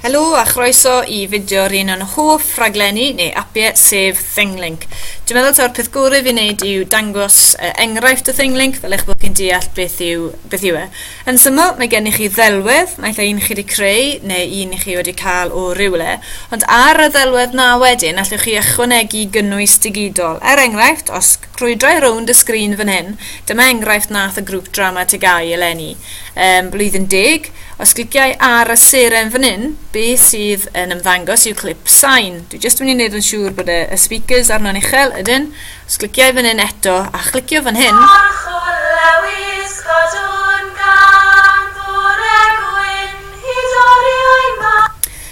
Helo a chroeso i fideo un o'n hoff raglenni neu apiau sef Thinglink. Dwi'n meddwl taw'r peth gorau fi wneud yw dangos uh, enghraifft o Thinglink fel eich bod chi'n deall beth yw, beth yw e. Yn syml, mae gennych chi ddelwedd, naill ai un chi wedi creu neu un i chi wedi cael o rywle, ond ar y ddelwedd na wedyn allwch chi ychwanegu gynnwys digidol, er enghraifft os Crwydrau rownd y sgrin fan hyn, dyma enghraifft nath y grŵp Drama Tegai eleni ym Mhlwyddyn Deg, os cliciau ar y seren fan hyn, be sydd yn ymddangos yw clip sain, dwi jyst yn mynd i wneud yn siŵr bod y, y speakers arno'n uchel, ydyn, os cliciau fan hyn eto a chlicio fan hyn, Parchwr Lewis, cadwn gan fore gwyn hyd oriau mawr.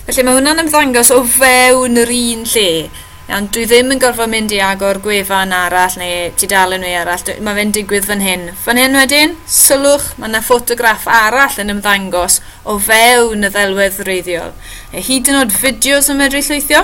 Felly mae hwnna'n ymddangos o fewn yr un lle. Iawn, dwi ddim yn gorfod mynd i agor gwefan arall neu tudalen neu arall, mae fe'n digwydd fan hyn. Fan hyn wedyn, sylwch, mae yna ffotograff arall yn ymddangos o fewn y ddelwedd wreiddiol. Neu hyd yn oed fideos yn medru llwythio.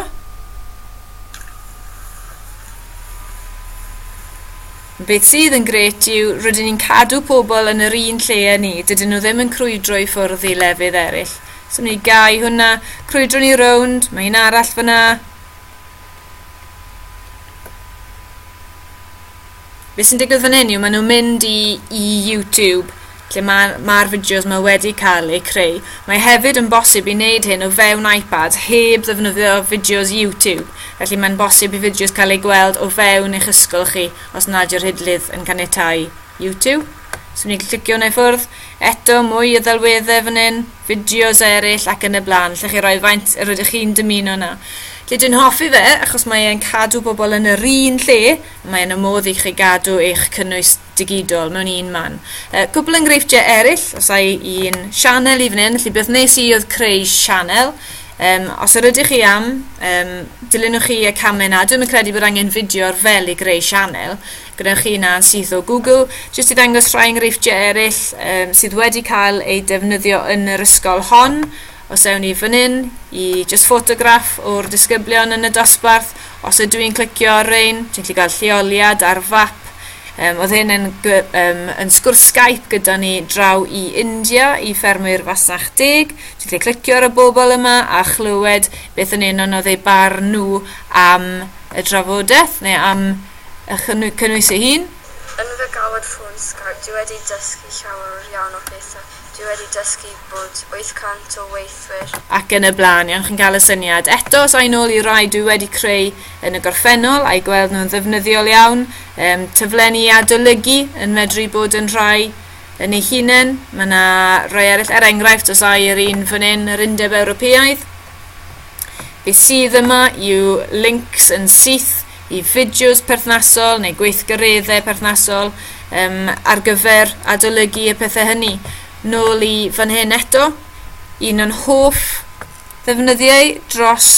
Beth sydd yn gret yw, rydyn ni'n cadw pobl yn yr un lle â ni, dydyn nhw ddim yn crwydro i ffwrdd i lefydd eraill. So ni gau hwnna, crwydro ni rownd, mae un arall fyna, Be sy'n digwydd fan hyn yw maen nhw'n mynd i, i YouTube lle mae'r ma fideos yma wedi cael eu creu. Mae hefyd yn bosib i wneud hyn o fewn iPad heb ddefnyddio fideos YouTube, felly mae'n bosib i fideos cael eu gweld o fewn eich ysgol chi os nad yw'r hidlydd yn caniatáu YouTube. So ni'n clicio hwnna i ffwrdd. Eto, mwy o ddelweddau fan hyn. fideos eraill ac yn y blaen, lle chi roi faint yr ydych chi'n dymuno yna. Lle dwi'n hoffi fe, achos mae e'n cadw bobl yn yr un lle, a mae yna modd i chi gadw eich cynnwys digidol mewn un man. Uh, cwbl enghreifftiau eraill, os ai un sianel i fan hyn, felly beth nes i oedd creu sianel, Um, os yr ydych chi am, um, dilynwch chi y camau yna. Dwi'n credu bod angen fideo ar fel i greu sianel. Gwnewch chi hynna yn syth o Google. Jyst i ddangos rhai enghreifftiau eraill um, sydd wedi cael eu defnyddio yn yr ysgol hon. Os ewn ni fan hyn i just ffotograff o'r disgyblion yn y dosbarth, os ydw i'n clicio ar rein, ti'n gallu cael lleoliad ar fap. Um, oedd hyn yn, um, yn sgwrs Skype gyda ni draw i India, i ffermwyr fasnach deg. Ti'n gallu clicio ar y bobl yma a chlywed beth yn un o'n oedd eu barn nhw am y drafodaeth neu am a chynnwys ei hun. Yn fy galwad ffôn Skype dwi wedi dysgu llawer iawn o phethau, dwi wedi dysgu bod 800 o weithwyr. Ac yn y blaen, iawn chi'n cael y syniad. Eto, os ai nôl i rai dwi wedi creu yn y gorffennol a'i gweld nhw'n ddefnyddiol iawn, um, tyflen i adolygu yn medru bod yn rhai yn ei hunain, mae yna rai eraill, er enghraifft os ai yr un fan hyn, yr Undeb Ewropeaidd, beth sydd yma yw links yn syth i fideos perthnasol neu gweithgareddau perthnasol um, ar gyfer adolygu y pethau hynny. Nôl i fan hyn eto, un o'n hoff ddefnyddiau dros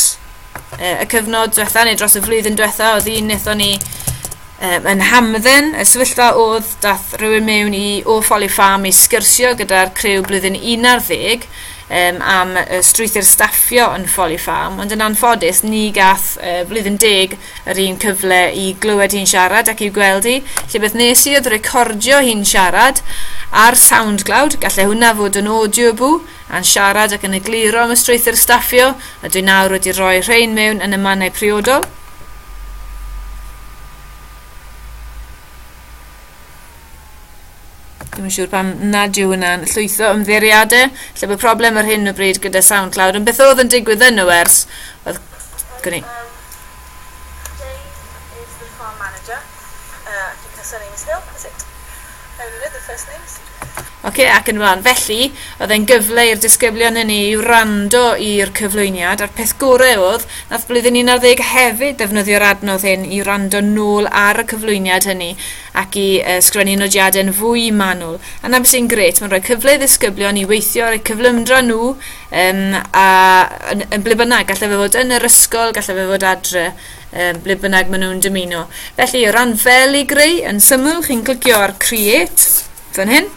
uh, y cyfnod diwetha neu dros y flwyddyn diwetha oedd un wnaethon ni um, yn hamdden y sefyllfa oedd dath rhywun mewn i o Folly Farm i sgyrsio gyda'r crew blwyddyn 11 um, am uh, strwythyr staffio yn Folly Farm, ond yn anffodus ni gath uh, flwyddyn deg yr un cyfle i glywed hi'n siarad ac i'w gweld hi, lle beth nes i oedd recordio hi'n siarad ar SoundCloud, gallai hwnna fod yn audio bw, a'n siarad ac yn egluro am y strwythyr staffio, a dwi nawr wedi rhoi rhain mewn yn y mannau priodol. Ddim yn siŵr pam nad yw hwnna'n llwytho ymddeiriadau. Lle bod problem ar hyn o bryd gyda SoundCloud. Yn beth oedd yn digwydd yn y wers? Oedd... Gwni. Um, Jane is the farm manager. Uh, I think her surname is Hill, is it? I only know the first names. Oce, ac yn ymlaen. Felly, oedd e'n gyfle i'r disgyblion yn ei wrando i'r cyflwyniad, a'r peth gorau oedd, nath blwyddyn 11 hefyd ddefnyddio'r adnodd hyn i wrando nôl ar y cyflwyniad hynny ac i uh, sgrennu nodiadau yn fwy manwl. A na beth sy'n gret, mae'n rhoi cyfle i ddisgyblion i weithio ar eu cyflymdra nhw um, a, yn, yn ble bynnag, gallai fe fod yn yr ysgol, gallai fe fod adre. um, ble bynnag maen nhw'n dymuno. Felly, o ran fel i greu, yn syml, chi'n clicio ar Create, fan hyn.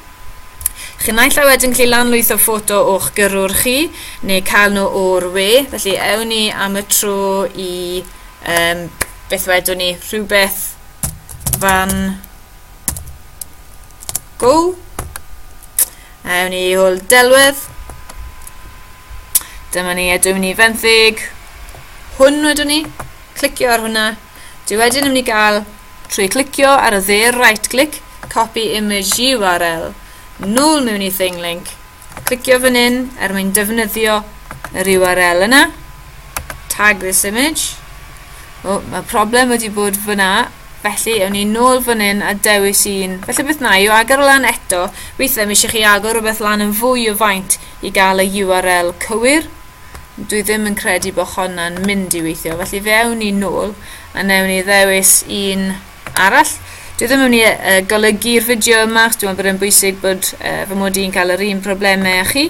Chi'n naill a wedyn gallu lanlwytho ffoto o'ch gyrrwr chi, neu cael nhw o'r we. Felly, ewn ni am y tro i, um, beth wedwn ni, rhywbeth fan Go. Awn ni hwyl delwedd. Dyma ni, a dwi'n ni fenthyg. Hwn wedwn ni. Clicio ar hwnna. Dwi wedyn yn mynd i gael trwy clicio ar y dde right click, copy image URL, nôl mewn i thing link, Clicio fan hyn er mwyn defnyddio yr URL yna. Tag this image. O, mae problem wedi bod fyna, felly ewn ni nôl fan hyn a dewis un. Felly beth na, yw agor o lan eto, weithiau mi eisiau chi agor rhywbeth lan yn fwy o faint i gael y URL cywir. Dwi ddim yn credu bod hwnna'n mynd i weithio, felly fe ewn ni nôl a newn ni ddewis un arall. Dwi ddim yn mynd i uh, golygu'r fideo yma, dwi'n meddwl bod e'n bwysig bod uh, fy mod i'n cael yr un problemau â chi.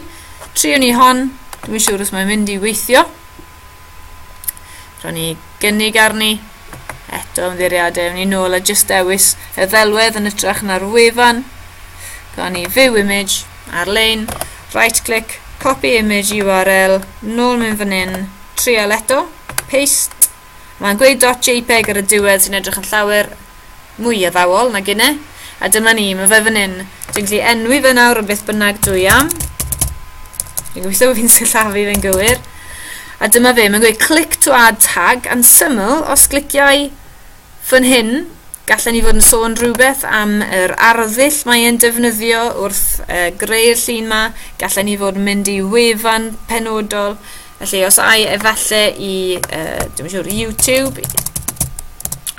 Triwn ni hon, dwi'n siŵr os mae'n mynd i weithio. Rhaid ni gynnig arni, eto ymddeiriadau, ewn ni nôl a jyst dewis y ddelwedd yn ytrach na'r wefan. Gawn ni view image ar-lein, right click, copy image URL, nôl mewn fan hyn, trial eto, paste, Mae'n gweud dot jpeg ar y diwedd sy'n edrych yn llawer mwy addawol na gine. A dyma ni, mae fe fan hyn. Dwi'n gallu enwi fe nawr yn beth bynnag dwi am. Dwi'n gweithio bod fi'n sillafu fe'n gywir. A dyma fe, mae'n gweud click to add tag, yn syml, os gliciau fan hyn, gallen ni fod yn sôn rhywbeth am yr arddull mae e'n defnyddio wrth uh, greu'r llun ma, gallen ni fod yn mynd i wefan penodol, Felly, os ai efallai i, uh, dwi'n siŵr, YouTube,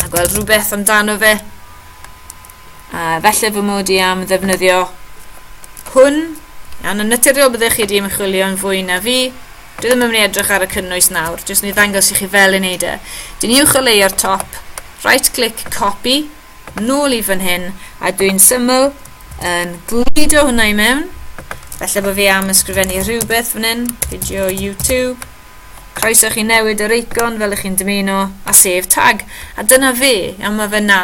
a gweld rhywbeth amdano fe, a efallai fy mod i am ddefnyddio hwn, iawn, yn naturiol byddech chi wedi ymchwilio'n fwy na fi, dwi ddim yn mynd i edrych ar y cynnwys nawr, jyst mynd i ddangos i chi fel yn neud e. Dyn ni uwch o leio'r top, right click copy, nôl i fan hyn, a dwi'n syml yn gludo hwnna i mewn. Felly bod fi am ysgrifennu rhywbeth fan hyn, video YouTube. Croeso chi newid yr eicon fel ych chi'n dymuno, a sef tag. A dyna fe, iawn mae fe na.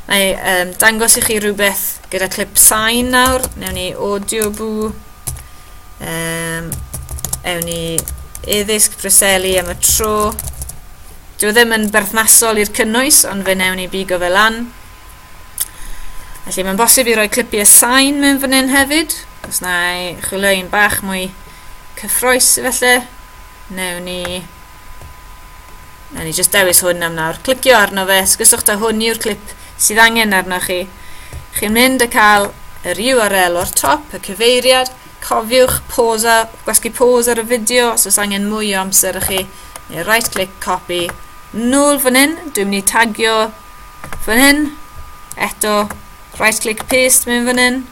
Mae um, dangos i chi rhywbeth gyda clip sain nawr, newn ni audio boo Um, ewn ni eddysg Breseli am y tro. Dwi ddim yn berthnasol i'r cynnwys, ond fe newn ni bigo fe lan. Felly mae'n bosib i roi clipiau sain mewn fan hyn hefyd. Os na i chwilio un bach mwy cyffroes felly, newn ni na ni jyst dewis hwn am nawr clicio arno fe sgyswch da hwn yw'r clip sydd angen arnoch chi chi'n mynd a cael yr URL o'r top y cyfeiriad cofiwch posa gwasgu pose ar y fideo os oes angen mwy o amser i chi neu right click copy nôl fan hyn dwi'n mynd i tagio fan hyn eto right click paste mewn fan hyn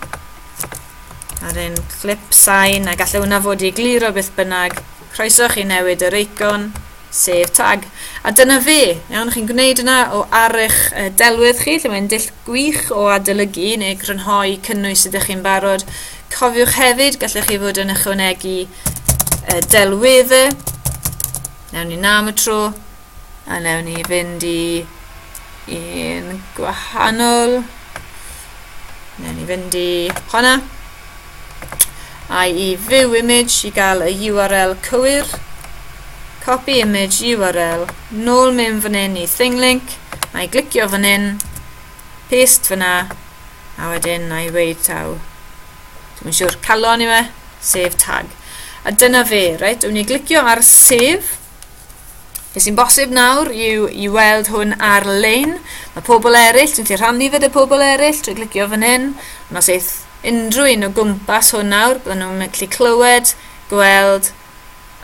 ar un clip sain a gallai hwnna fod i gliro beth bynnag Croeso chi newid yr eicon, sef tag. A dyna fe, iawn, chi'n gwneud yna o ar eich delwedd chi, lle mae'n dull gwych o adolygu neu grynhoi cynnwys sydd ydych chi'n barod. Cofiwch hefyd, gallech chi fod yn ychwanegu delweddau. Nawn ni na am y tro. A newn ni fynd i un gwahanol. Newn ni fynd i honna. IE view image i gael y URL cywir. Copy image URL. Nôl mewn fan hyn i thing link. A i glicio fan hyn. Paste fyna. A wedyn na i weid taw. Dwi'n siŵr calon i fe. Save tag. A dyna fe, reit? Dwi'n ni glicio ar save. Be sy'n bosib nawr yw i weld hwn ar-lein. Mae pobl eraill, ti'n gallu rhannu fe dy pobl eraill trwy glicio fan hyn. Ond os eith unrhyw un o gwmpas hwn nawr, bydden nhw'n gallu clywed, gweld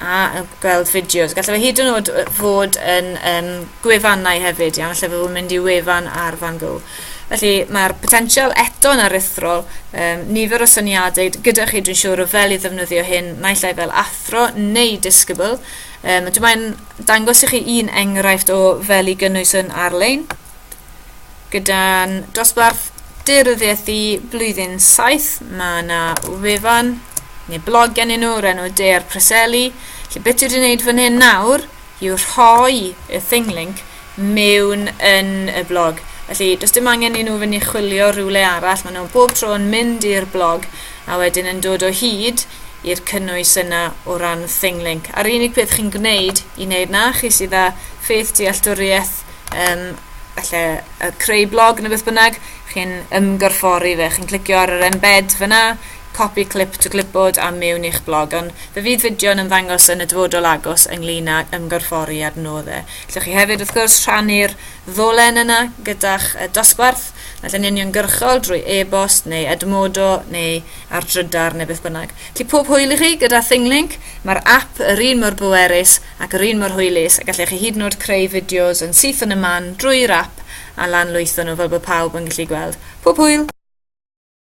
a gweld fideos. Gallai fe hyd yn oed fod yn um, gwefannau hefyd, iawn, lle fe fod mynd i wefan ar Van Gogh. Felly, mae'r potensial eto'n aruthrol. Um, nifer o syniadau gyda chi, dwi'n siŵr, o fel i ddefnyddio hyn, naill ai fel athro neu disgybl. Um, dwi'n mae'n dangos i chi un enghraifft o fel i gynnwys yn ar-lein, gyda'n dosbarth deiryddiaeth i blwyddyn 7, mae yna wefan neu blog gen i nhw o'r enw De a'r Preseli. Felly, beth dwi wedi gwneud fan hyn nawr i'w rhoi y thing link mewn yn y blog. Felly, does dim angen i nhw fynd i chwilio rhywle arall, maen nhw bob tro yn mynd i'r blog a wedyn yn dod o hyd i'r cynnwys yna o ran thing link. A'r unig peth chi'n gwneud i wneud na, chi sydd â ffeith dealltwriaeth um, falle creu blog neu beth bynnag, chi'n ymgorffori fe. Chi'n clicio ar yr embed fyna, copi clip to clipboard a mewn i'ch blog, ond fe fydd fideo yn ymddangos yn y dyfodol agos ynglyn ag ymgorffori a'r nod e. Allwch chi hefyd, wrth gwrs, rhannu'r ddolen yna gyda'ch dosbarth, naill yn uniongyrchol drwy e-bost neu Edmodo neu ar drydar neu beth bynnag. Felly pob hwyl i chi gyda ThingLink, mae'r app yr un mor bwerus ac yr un mor hwylus a gallech chi hyd yn oed creu fideos yn syth yn y man drwy'r app a lanlwytho nhw fel bod pawb yn gallu gweld. Pob hwyl!